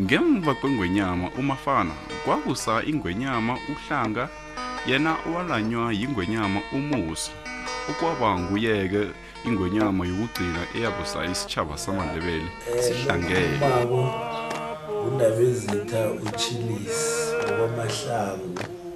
ngemva kwengwenyama umafana kwakusa ingwenyama uhlanga yena owalanywa yingwenyama umusi okwaba nguyeke ingwenyama yokugcina eyabusa isitshaba samandebele sihlangele undabezitha uchilisi ngokwamahlangu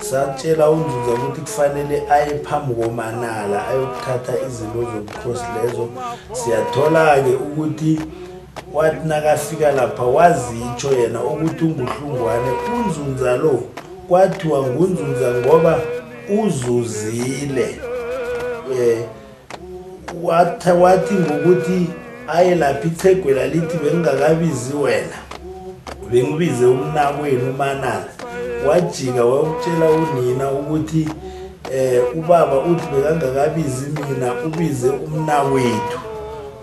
satshela unzuza ukuthi kufanele aye phambi komanala ayokuthatha izinto zobukhosi lezo siyathola-ke ukuthi wathi nakafika lapha wazitsho yena ukuthi unguhlungwane unzunza lo kwathiwa ngunzunza ngoba uzuzile um watha wathi ngokuthi aye lapha ithegwela lithi bengingakabizi wena bengibize umnakwenu umanala wajika wayokutshela unina ukuthi um ubaba uthi bekangakabizi mina ubize umnakwethu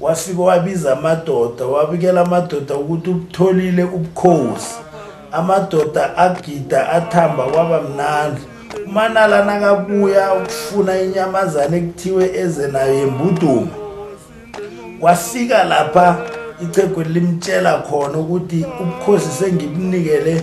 Wafike wabiza amadoda, wabikela amadoda ukuthi ubutholile ubukhosi. Amadoda agida athamba kwaba mnandi. UManala nakabuya ukufuna inyamazane ekuthiwe eze nayo yembuduma. Wafika lapha ichegwe limtshela khona ukuthi ubukhosi sengibunikele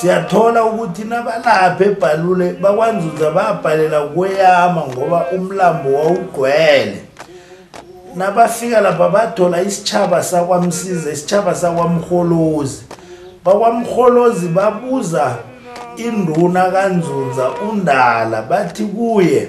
Siyathola ukuthi nabalapha ebhalule bakwanzuza babhalela kweyama ngoba umlambo wawugcwele. Nabafika lapha bathola isitshaba sakwamsiza, isitshaba sakwamholozi. Bakwamholozi babuza induna kanzunza undala bathi kuye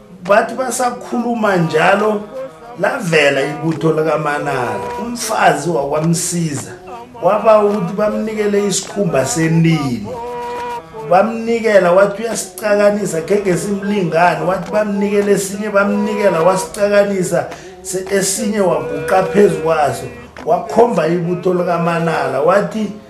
bathi basakhuluma njalo lavela ibutho likamanala umfazi wakwamsiza waba ukuthi bamnikele isikhumba senini bamnikela wathi uyasicakanisa khenge simlingani wathi bamnikele esinye bamnikela wasicakanisa esinye waguqa phezu kwaso wakhomba ibutho likamanala wathi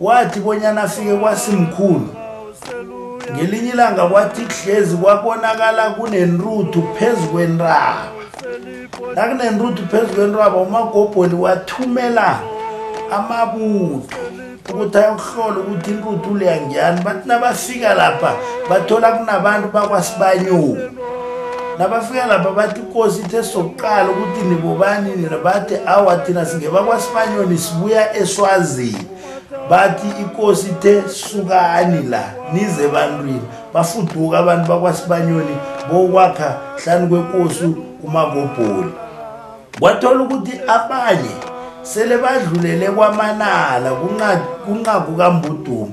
Wathi bonyana afike kwasimkhulu. Ngelinye ilanga kwathi kuhlezi kwabonakala kunenruthu phezu kwentaba. Nakunenruthu phezu kwentaba uMagobholi wathumela amabutho ukuthi ayokuhlola ukuthi inruthu leya ngiyani. Bathi nabafika lapha bathola kunabantu bakwaSibanyoni. Nabafika lapha bathi inkosi ithe sokuqala ukuthi nibobani nina bathi awa thina singebakwasibanyoni sibuya eswazini bathi inkosi ithe sukani la nize ebantwini bafuduka abantu bakwasibanyoni bokwakha hlani kwenkosi umakobholi kwathola ukuthi abanye sele badlulele kwamanala kunqaku kambudumo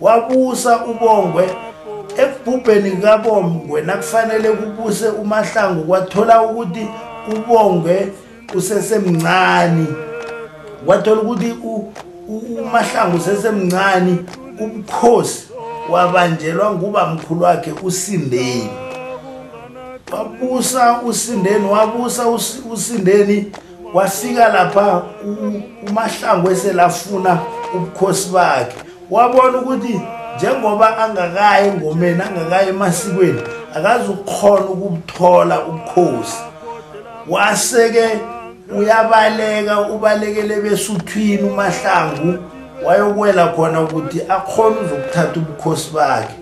Wabusa uBongwe ekubhubheni kukaBongwe nakufanele kubuse uMahlangu kwathola ukuthi uBongwe usesemncane wathola ukuthi uMahlangu usesemncane ubukhosi wabanjelwa nguba mkhulu wakhe uSindeni wabusa uSindeni wabusa uSindeni kwafika lapha umahlangu eselafuna ubukhosi bakhe wabona ukuthi njengoba angakayi engomeni angakayi emasikweni akazi ukukhona ukubuthola ubukhosi waseke uyabaleka ubalekele besuthwini umahlangu wayokwela khona ukuthi akhona uzokuthatha ubukhosi bakhe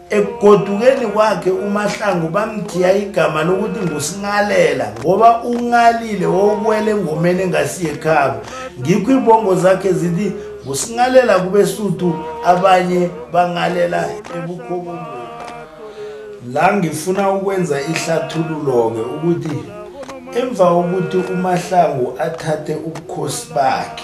Ekugodukeni kwakhe uMahlangu bamthiya igama lokuthi nguSingalela ngoba ungalile wokuwela engomeni engasiye khaba. Ngikho ibongo zakhe zithi nguSingalela kubeSuthu abanye bangalela ebukhokweni. La ngifuna ukwenza ihlathululo-ke ukuthi emva kokuthi uMahlangu athathe ubukhosi bakhe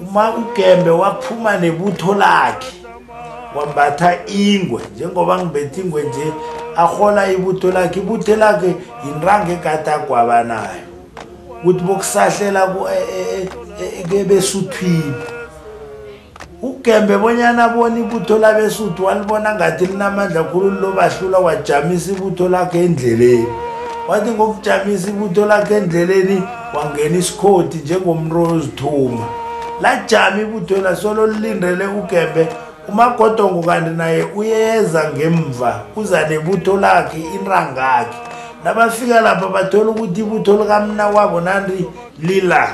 uma ugembe waphuma nebutho lakhe wambatha ingwe njengoba ngibetha ingwe nje ahola ibutho lakhe ibutho lakhe yinranga egade agwaba nayo ukuthi bokusahlela e, e, e, kebesuthwini ugembe bonyana abona ibutho labesuthu walibona ngathi linamandla khulu lilobahlula wajamisa ibutho lakhe endleleni wathi ngokujamisa ibutho lakhe endleleni wangena isikhodi njengomntu ozithuma lajama ibutho lasolo lilindele ugembe umagodongo kanti naye uyeza ngemva uza nebutho lakhe inrangakhe nabafika lapha bathola ukuthi ibutho likamna wabo nandi lila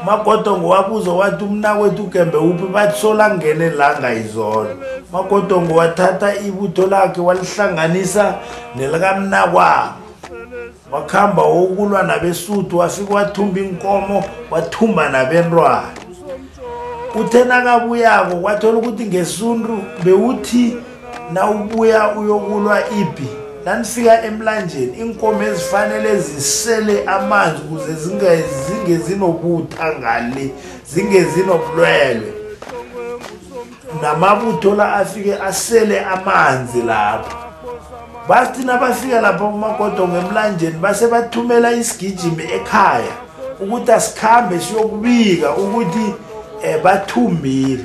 magodongo wabuza wathi umnakwethu ugembe uphi bathi solangene langa izolo magodongo wathatha ibutho lakhe walihlanganisa nelikamnakwabo wakuhamba wokulwa nabesuthu wafike wathumba inkomo wathumba nabentwana uthe nakabuyako kwathola ukuthi ngesuntu bewuthi nawubuya uyokulwa ipi nanifika emlanjeni inkomo ezifanele zisele amanzi ukuze zinge zinobutha ngale zinge zinobulwelwe namabutho la afike asele amanzi lapho bathi nabafika lapha kumagodo ngemlanjeni base bathumela isigijimi ekhaya ukuthi asikhambe siyokubika ukuthi um bathumbile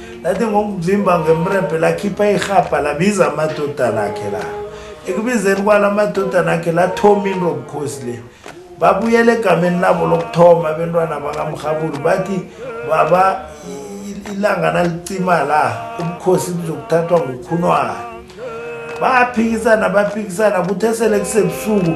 lathi ngokuvimba ngemrebhe lakhipha irhabha labiza amadodana akhe la ekubizeni kwala amadodana akhe lathoma into obukhosi le babuyela egameni labo lokuthoma abentwana bakamrhabulu bathi baba ilanga nalicima la ubukhosi buzokuthathwa ngukhunwana baphikisana baphikisana kuthe sele kusebusuku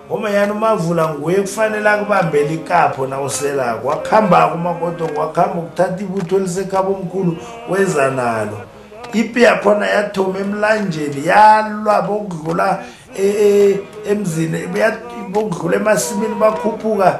Ngoma yani umavula nguye kufanele akubambele ikapho na usela kwakhamba kuma kodwa kwakhamba ukuthatha ibutho lisekhaba omkhulu weza nalo ipi yakhona yathoma emlanjeni yalwa bokudlula e, e, emzini bokudlula emasimini bakhuphuka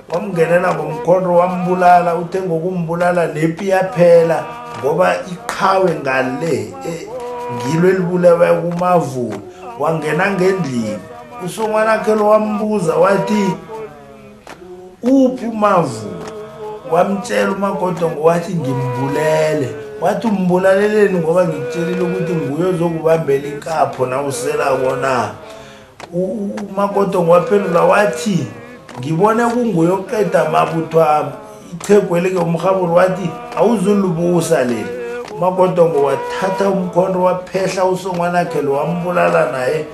wamngenela ngomkhonto wambulala uthe ngokumbulala nepi yaphela ngoba iqhawe ngale e, ngilo elibulewe kumavula wangena ngendlini usongwanakhe lo wambuza wathi uphi umavula wamtshela umagodongo wathi ngimbulele wathi umbulaleleni ngoba ngikutshelile ukuthi nguye ozokubambela inkapho nawusela kona umakoto ngwaphendula wathi ngibone kunguye okuqeda amabutho ami ithegu elike umhaburi wathi awuzulubusa leli umakotongo wathatha umkhonto waphehla usongwanakhe lo wambulala naye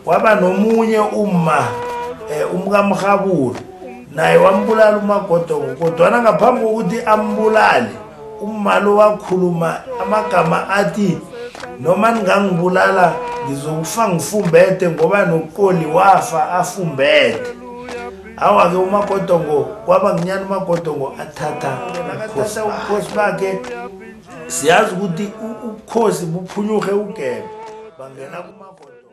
waba nomunye uma um eh, umkamhaburi naye wambulala umagodogo kodwana ngaphambi kokuthi ambulale umalo wakhuluma amagama athi noma ningangibulala ngizokufa ngifumbethe ngoba noqoli wafa afumbethe awa-ke umagodongo kwaba nginyana umagodongo athatha athatha ubukhosi bakhe siyazi ukuthi ubukhosi buphunyuhe ugebe bangena kumagodongo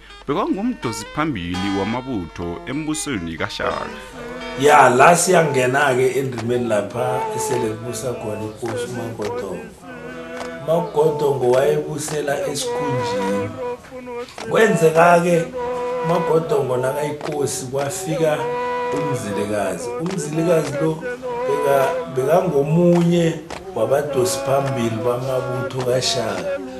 bekangumdosi phambili wamabutho embusweni kaShaka. Ya la siyangena ke endimeni lapha esele kubusa khona inkosi uMagodongo. Magodongo wayebusela esikhunjini. Kwenzeka ke uMagodongo nakayinkosi kwafika umzilikazi. Umzilikazi lo bekangomunye wabadosi phambili bamabutho kaShaka.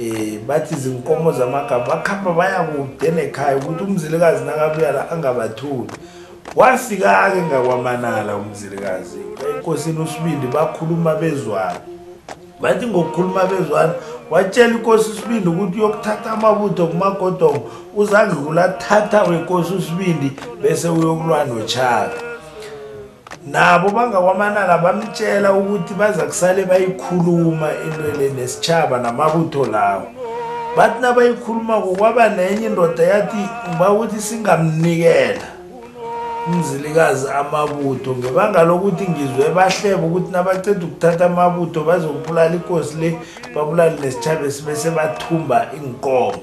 Eh bathi izinkomo zamagama bakhamba baya kude nekhaya ukuthi umzilikazi nakabuya la angabathuli. Wafika ke ngakwamanala umzilikazi. Inkosini uSibindi bakhuluma bezwana. Bathi ngokukhuluma bezwana watshela inkosi uSibindi ukuthi uyokuthatha amabutho kumagodongo uzange kulathatha wenkosi uSibindi bese uyokulwa noChaka. nabo bangakwamanala bamtshela ukuthi baza kusale bayikhuluma intwele nesitshaba namabutho lawo bathi nabayikhulumako kwaba nenye indoda yathi ngiba ukuthi singamnikela umzilikazi amabutho ngebanga lokuthi ngizwe bahleba ukuthi nabaceda ukuthatha amabutho bazokubulala ikosi le babulale nesitshaba esibe sebathumba iinkomo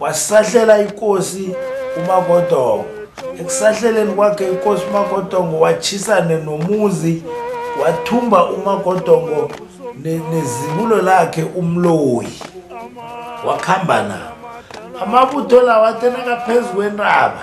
wasahlela inkosi umagodongo ekusahleleni kwakhe inkosi umagodongo watshisane nomuzi wathumba umagodongo nezibulo lakhe umloyi wakuhamba nabo amabutho lawo athenakaphezu kwentaba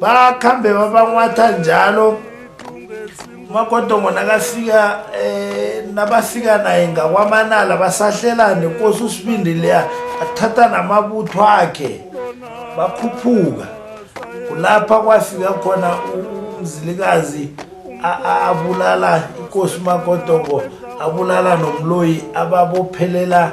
bakhambe babanwatha njalo umagodongo nakafika eh nabafika naye ngakwamanala basahlelane nkosi usibindi leya athatha namabutho akhe bakhuphuka kulapha kwafika khona umzilikazi abulala inkosi umagodongo abulala nomloyi ababophelela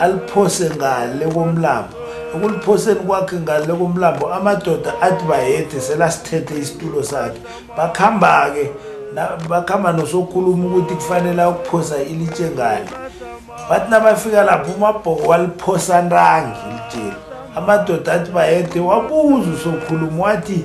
aliphose ngale komlambo ekuliphoseni kwakhe ngale komlambo amadoda athi bayede selasithethe isitulo sakhe bakuhamba-ke bakuhamba nosokhuluma ukuthi kufanele ukuphosa ilitshe ngale bathi nabafika lapho umabhoko waliphosa ntangi ilitsheli amadoda athi bayede wabuza usokhuluma wathi